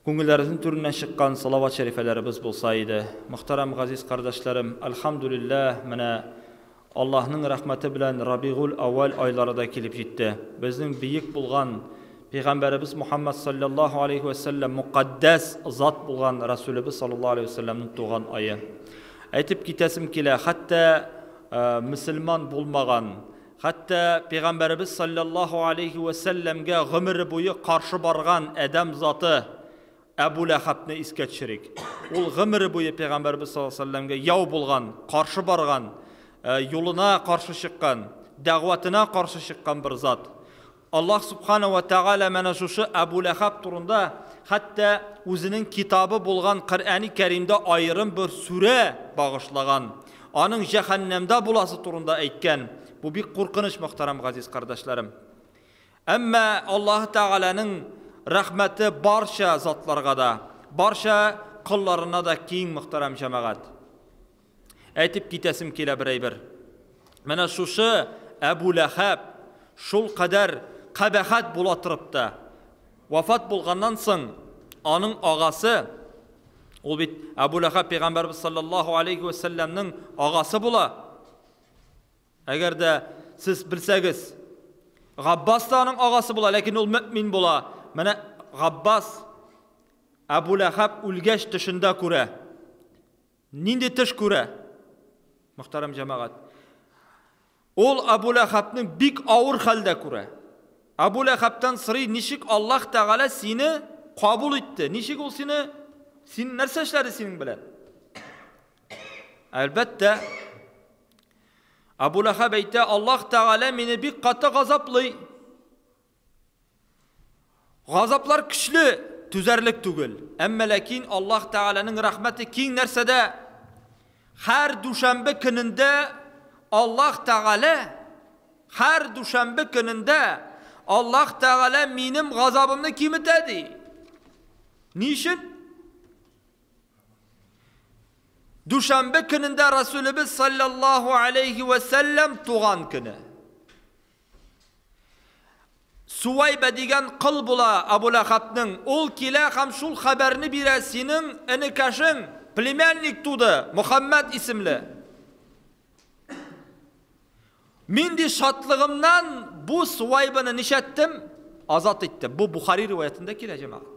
Күңелләребезнең түреннән чыккан салават шәрифәләребез булса иде. Мөхтәрәм газиз кардәшләрем, әлхәмдүлилләһ, менә Аллаһның рәхмәте белән Рабигуль әүвәл айлары да килеп җитте. Безнең биек булган Пәйгамбәребез Мухәммәд салләллаһу алейһи вә сәлләм, мөкатдәс зат булган Рәсүлебез салләллаһу алейһи вә сәлләмнең туган ае. Әйтеп китәсем килә, хәтта мөселман булмаган Хәтта Пәйгамбәребез салләллаһу алейһи вә сәлләмгә гомере буе каршы барган адәм заты Әбу Ләхәбне искә төшерик. Ул гомере буе Пәйгамбәребез саллаллаһу алейһи вә сәлләмгә яу булган, каршы барган, юлына каршы чыккан, дәгъватына каршы чыккан бер зат. Аллаһ Сүбхана вә Тәгалә менә шушы Әбү Ләхәб турында хәтта үзенең китабы булган Коръәни Кәримдә аерым бер сүрә багышлаган, аның җәһәннәмдә буласы турында әйткән. Бу бик куркыныч, мөхтәрәм газиз кардәшләрем. Әмма Аллаһы Тәгаләнең рәхмәте барча затларга да, барча колларына да киң, мөхтәрәм җәмәгать. Әйтеп китәсем килә бер әйбер. Менә шушы Әбу Ләхәб шул кадәр кабәхәт була торып та, вафат булганнан соң, аның агасы, ул бит Әбу Ләхәб пәйгамбәрбез саллаллаһу алейхи ва саллямның агасы була. Әгәр дә сез белсәгез, Габбас та аның агасы була, ләкин ул мөмин була. Менә Габбас Әбу Ләхәб үлгәч төшендә күрә. Нинди төш күрә? Мөхтәрәм җәмәгать. Ул Абу Ләхәбне бик авыр хәлдә күрә. Абу Ләхәбтән сорый, ничек Аллаһ Тәгалә сине кабул итте? Ничек ул сине син нәрсә эшләде синең белән? Әлбәттә, Абу Ләхәб әйтә, Аллаһ Тәгалә мине бик каты газаплый. Газаплар көчле, түзәрлек түгел. Әмма ләкин Аллаһ Тәгаләнең рәхмәте киң нәрсәдә? Хәр дүшәмбе көнендә Аллаһ Тәгалә хәр дүшәмбе көнендә Аллаһ Тәгалә минем газабымны киметә ди. Ни өчен? Дүшәмбе көнендә Расулебез саллаллаһу алейхи ва саллям туган көне. Суәйбә дигән кол була Абу Ләхәбнең. Ул килә һәм шул хәбәрне бирә, Синең энекәшең, племянник туды, Мөхәммәд исемле. Мин ди шатлыгымнан бу Суәйбәне нишләттем? Азат иттем. Бу Бухари риваятендә килә, җәмәгать.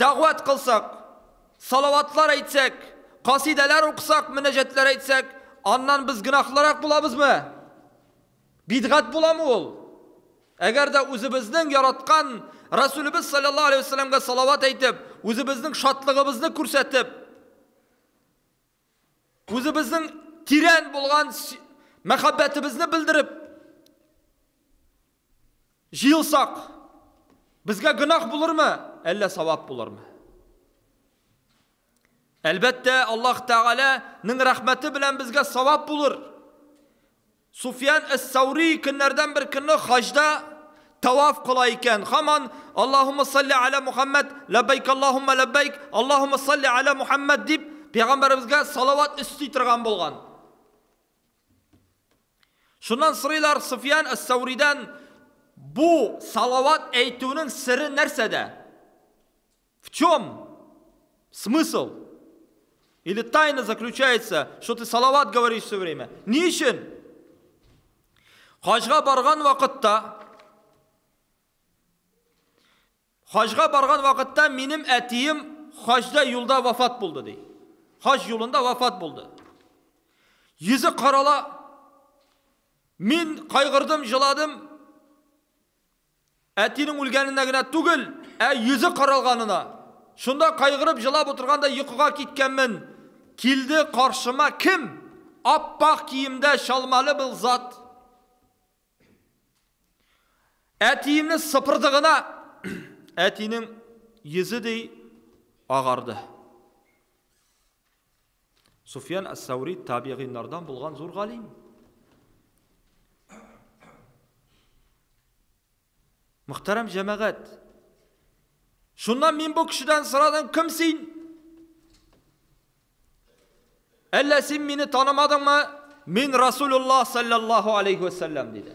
Дәгъват кылсак, салаватлар әйтсәк, касыйдәләр укысак, мөнәҗәтләр әйтсәк, аннан без гөнаһлырак булабызмы? Бидгать буламы ул? Әгәр дә үзебезнең яраткан Рәсүлебез салләллаһу алейһи вә сәлләмгә салават әйтеп, үзебезнең шатлыгыбызны күрсәтеп, Үзебезнең тирән булган мәхәббәтебезне белдереп җыелсак, безгә гөнаһ булырмы, әллә савап булырмы? Әлбәттә, Аллаһ Тәгаләнең рәхмәте белән безгә савап булыр. Суфьян әс-Сәүри көннәрдән бер көнне хаҗда тәваф кыла икән, һаман Аллаһуммә салли галә Мухәммәд, ләббәйк Аллаһуммә ләббәйк, Аллаһуммә салли галә Мухәммәд дип, пәйгамбәребезгә салават өсти торган булган. Шуннан сорыйлар Суфьян әс-Сәүридән, Бу салават әйтүнең сере нәрсәдә? В чем смысл? Или тайна заключается, что ты салават говоришь все время. Ни өчен? Хаҗга барган вакытта Хаҗга барган вакытта минем әтием хаҗда юлда вафат булды ди. Хаҗ юлында вафат булды. Йөзе карала. Мин кайгырдым, җыладым. Әтинең үлгәненә генә түгел, ә йөзе каралганына. Шунда кайгырып җылап утырганда йокыга киткәнмен, килде каршыма кем? Ап-ак киемдә чалмалы бел зат. Әтиемне сыпырды гына, әтинең йөзе ди агарды. Суфьян әс-Сәүри табигыйннардан булган зур галим. Мөхтәрәм җәмәгать, шуннан мин бу кешедән сорадым, кем син? Әллә син мине танымадыңмы? Мин Расулуллах саллаллаху алейхи вәсәлләм диде.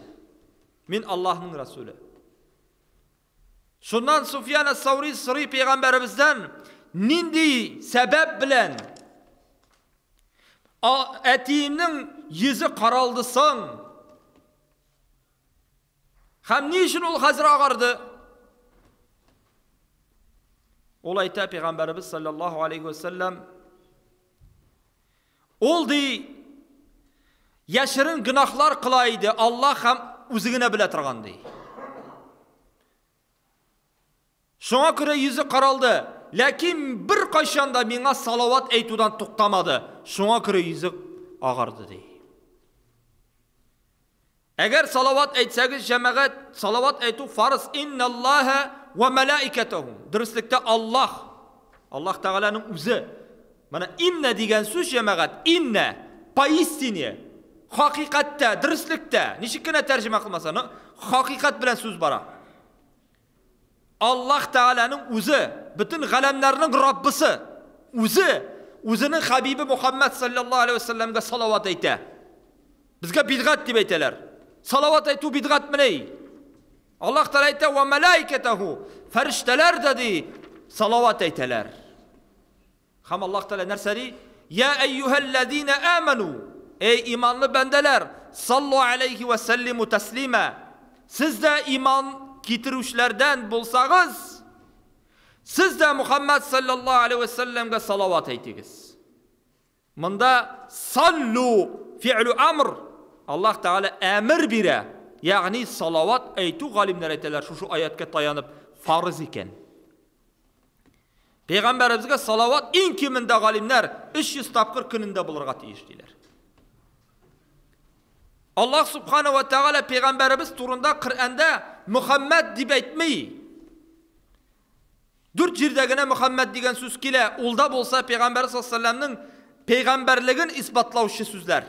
Мин Аллаһның Расулы. Шуннан Суфьян әс-Саури сорый пәйгамбәребездән, нинди сәбәп белән әтиемнең йөзе каралды соң? Һәм ни өчен ул хәзер агарды? Ул әйтә пәйгамбәребез саллаллаһу алейхи ва саллям, Ул, ди, яшерен гөнаһлар кыла иде, Аллаһ һәм үзе генә белә торган, ди. Шуңа күрә йөзе каралды, ләкин бер кайчан да миңа салават әйтүдән туктамады. Шуңа күрә йөзе агарды, ди. Әгәр салават әйтсәгез, җәмәгать, салават әйтү фарыз, инналлаһа вә мәләикәтәһү, дөреслектә Аллаһ, Аллаһ Тәгаләнең үзе. Менә иннә дигән сүз, җәмәгать, иннә, поистине, хакыйкатьтә, дөреслектә, ничек кенә тәрҗемә кылмаса, но хакыйкать белән сүз бара. Аллаһ Тәгаләнең Үзе, бөтен галәмнәрнең Раббысы Үзе Үзенең Хәбибе Мөхәммәд салләллаһу галәйһи вә сәлләмгә салават әйтә. Безгә бидгать дип әйтәләр. Салават әйтү бидгатьмени? Аллаһ Тәгалә әйтә, Вә мәләикәтәһу, фәрештәләр дә, ди, салават әйтәләр. Һәм Аллаһ Тәгалә нәрсә ди? Йә әйюһәлләзинә әмәну, әй иманлы бәндәләр, саллу галәйһи вә сәллиму тәслимә, сез дә иман китерүчеләрдән булсагыз, сез дә Мухаммәд саллаллаһу галәйһи вә сәлләмгә салават әйтегез. Монда саллу фи'лу амр, Аллаһ Тәгалә әмер бирә, ягъни салават әйтү галимнәр әйтәләр шушы аятка таянып фарыз икән. Пәйгамбәребезгә салават иң кимендә галимнәр 300 тапкыр көнендә булырга тиеш диләр. Аллаһ субхана ва тәгалә пәйгамбәребез турында Коръәндә Мөхәммәд дип әйтми. Дүрт җирдә генә Мөхәммәд дигән сүз килә. Ул да булса пәйгамбәр саллаллаһу пәйгамбәрлеген исбатлаучы сүзләр.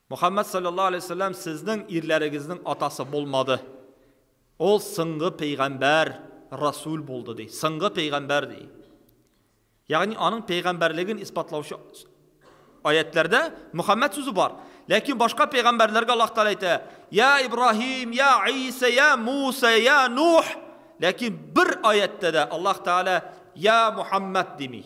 Мөхәммәд салләллаһу аләйһи вә сәлләм сезнең ирләрегезнең атасы булмады. Ул соңгы пәйгамбәр, расүл булды, ди. Соңгы пәйгамбәр, ди. Ягъни аның пәйгамбәрлеген исбатлаучы аятьләрдә Мөхәммәд сүзе бар. Ләкин башка пәйгамбәрләргә Аллаһ Тәгалә әйтә, "Я Ибраһим, я Иса, я Муса, я Нух". Ләкин бер аятьтә дә Аллаһ Тәгалә я Мөхәммәд дими.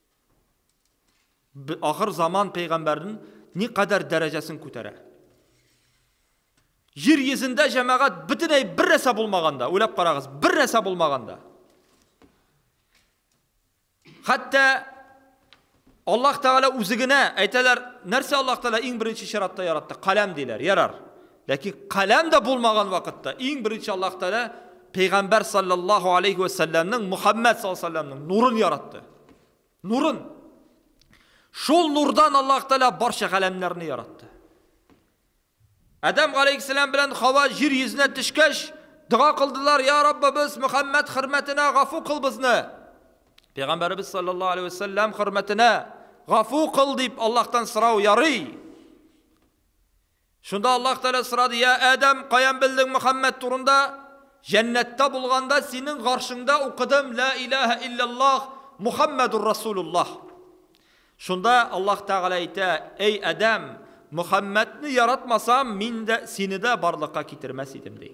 Ахыр заман пәйгамбәрен никадәр дәрәҗәсен күтәрә. Җир йөзендә җәмәгать бөтенләй бер нәрсә булмаганда, уйлап карагыз, бер нәрсә булмаганда. Хәтта Аллаһ Тәгалә үзе генә әйтәләр, нәрсә Аллаһ Тәгалә иң беренче чиратта яратты? Каләм диләр. Ярар. Ләкин каләм дә булмаган вакытта, иң беренче Аллаһ Тәгалә пәйгамбәр салләллаһу алейһи вә сәлләмнең Мухаммәд саллаллаһу алейһи вә сәлләмнең нурын яратты. Нурын. Шул нурдан Аллаһ Тәгалә барча галәмнәрне яратты. Адәм галәйһиссәлам белән Хава җир йөзенә төшкәч, дога кылдылар, "Я Раббыбыз, Мухаммәд хөрмәтенә гафу кыл безне." Пәйгамбәребез саллаллаһу алейһи вә сәлләм хөрмәтенә гафу кыл дип Аллаһтан сорау ярый. Шунда Аллаһ Тәгалә сорады, Йә Адәм, каян белдең Мөхәммәд турында? Җәннәттә булганда, синең гаршеңдә укыдым, Лә илаһә илляллаһ Мөхәммәдур Расулуллаһ. Шунда Аллаһ Тәгалә әйтә, Әй Адәм, Мөхәммәдне яратмасам, мин дә, сине дә барлыкка китермәс идем, ди.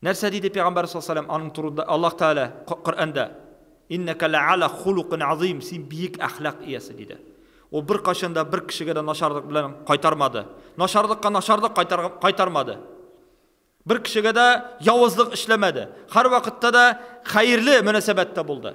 Нәрсә диде пәйгамбәр саллаллаху аның турында Аллаһ Тәгалә Коръәндә? Иннәкә лә'ала хулукин азим, син биек әхлак иясе диде. Ул беркайчан да бер кешегә дә начарлык белән кайтармады. Начарлыкка начарлык кайтармады. Бер кешегә дә явызлык эшләмәде. Һәрвакытта да хәерле мөнәсәбәттә булды.